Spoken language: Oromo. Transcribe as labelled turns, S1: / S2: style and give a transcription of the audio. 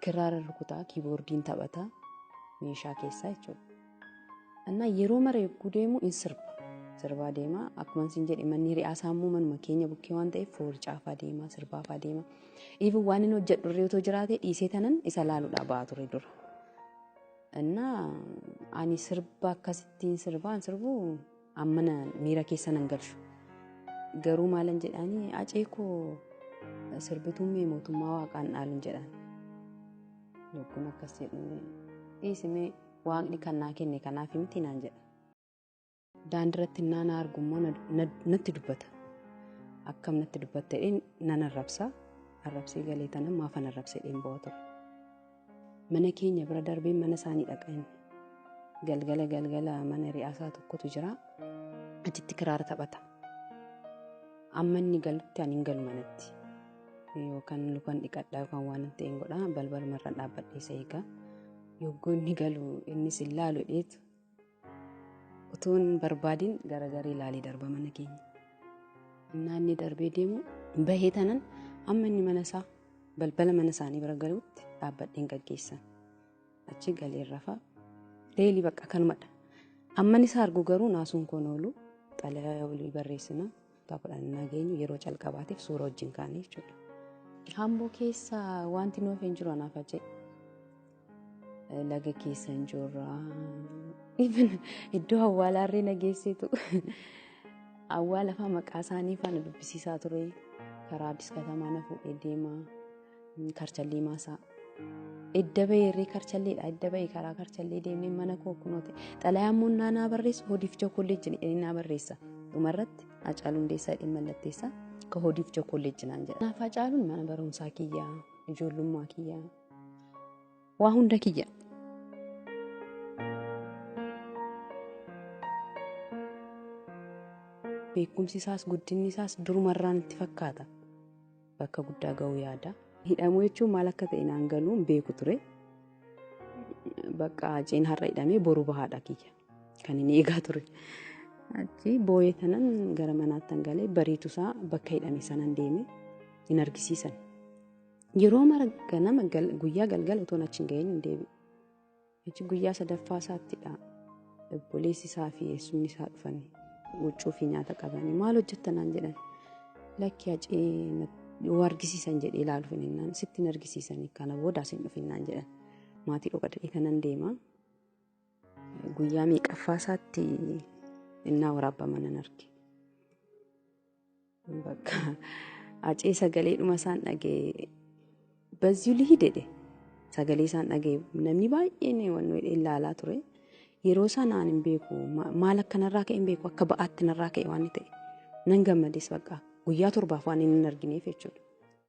S1: Kiraara rukutaa, kiiboordiin taphataa meeshaa keessaa jechuudha. Annaa yeroo mara yogguu deemu in sirba. Sirbaa deemaa akkuma isin jedhe manni hiriyaa isaa immoo manuma keenya bukkee waan ta'eef foorcaafaa deemaa sirbaafaa deemaa. Iifuu waan inni hojjedhu irree otoo jiraatee dhiisee tanan isa laaluudhaa ba'aa ture dura. Annaa ani sirba akkasittiin sirbaan sirbuu Amma na miira keessa nan galchu. Garuu maalan jedhaanii acee koo sirbituun mee mootummaa waaqaan dhaalun jedhaan. Lukkuun akkas jedhu dhiisimee waaqni kan naa kenne kanaaf miti naan jedha. Daandiratti innaa na argu immoo natti dubbata. Akkam natti dubbattedheen nan arrabsa. Arrabsee galee tanan maafan arrabsedheen ba'a ture. Mana keenya bira darbee mana isaanii dhaqa inni. Galgala galgala mana ri'aasaa tokkotu jira. Achitti kiraara taphata. Amma inni galutti ani hin galu manatti. Yookaan lukaan dhiqadhaa yookaan waan hin ta'een godhaa balbalumarra dhaabbadhee isa eegaa. Yogguu inni galu innis hin laalu dheetu. Utuu hin barbaadin garagarii ilaalee darba mana keenya. Innaa inni darbee deemu bahee tanan amma inni mana isaa balbala mana isaanii bira galuutti dhaabbadheen gaggeessan. Achi galeen rafa. Deelii bakka kanumadha. Amman isaa argu garuu naasuun koon oolu xalayaa olii barreessina. Taphaadhaan innaa geenyu yeroo calqabaatiif suura wajjin kaane jechuudha. Hamboo keessa wanti nuuf hin jiru anaaf ajee. Laga keessa hin jirra. Iddoo awwaalaa irree na geesseetu. Awwaala fa'aa maqaa isaanii fa'aa na dubbisiisaa ture. Karaa Addis Katamaa na fuudhee deema. Karchallii maasaa. Edda bahee irree karchalleedha. Edda bahee karaa karchallee deemnee mana koo kunooti. Xalayaa immoo naa naa barreessu hodiif chookolleejjin jedhanii naa barreessa. Dhumarratti Hacaaluu Hundeessaa jedhee mallatteessaa ka hodiif chookolleejjin naan jedha. Kanaaf Hacaaluun mana barumsaa kiyya, ijoollummaa kiyya, waa hunda kiyya. Beekumsi isaas guddinni isaas durumarraan itti fakkaata. bakka guddaa ga'uu yaada. Hidhamuu jechuun maal akka ta'e naan galuu hin beeku ture. Bakka Haceen har'a hidhamee boru bahaadha kiyya kan inni eegaa ture. Achi booyee tanan gara manaattan galee bariitusaa bakka hidhame sanan deeme hin argisiisan. Yeroo mara ganama guyyaa galgala utuun achi hin ga'iin hin deebi'u. Hajji guyyaa sadaffaa isaattidha obboleessi isaa fi eessumni isaa dhufanii huccuu fi nyaata qabanii maal hojjetta naan jedhan lakki hacii yoo argisiisan jedhee ilaalu fininnaan sitti hin argisiisanii kana booda asin dhufinnaan jedhan maatii dhokadhee kanan deema guyyaa meeqaffaa isaatti innaa waraabbaman nan arge. Bakka acee sagalee dhuma isaan dhagee bazzuu lihii dedhe sagalee isaan dhagee namni baay'een waan nuyi ilaalaa ture. Yeroo sanaan hin beeku maal akka narraa ka'e hin beeku akka ba'aatti narraa ka'e waan ta'e nan gammades bakka guyyaa torbaaf waan inni hin argineef jechuudha.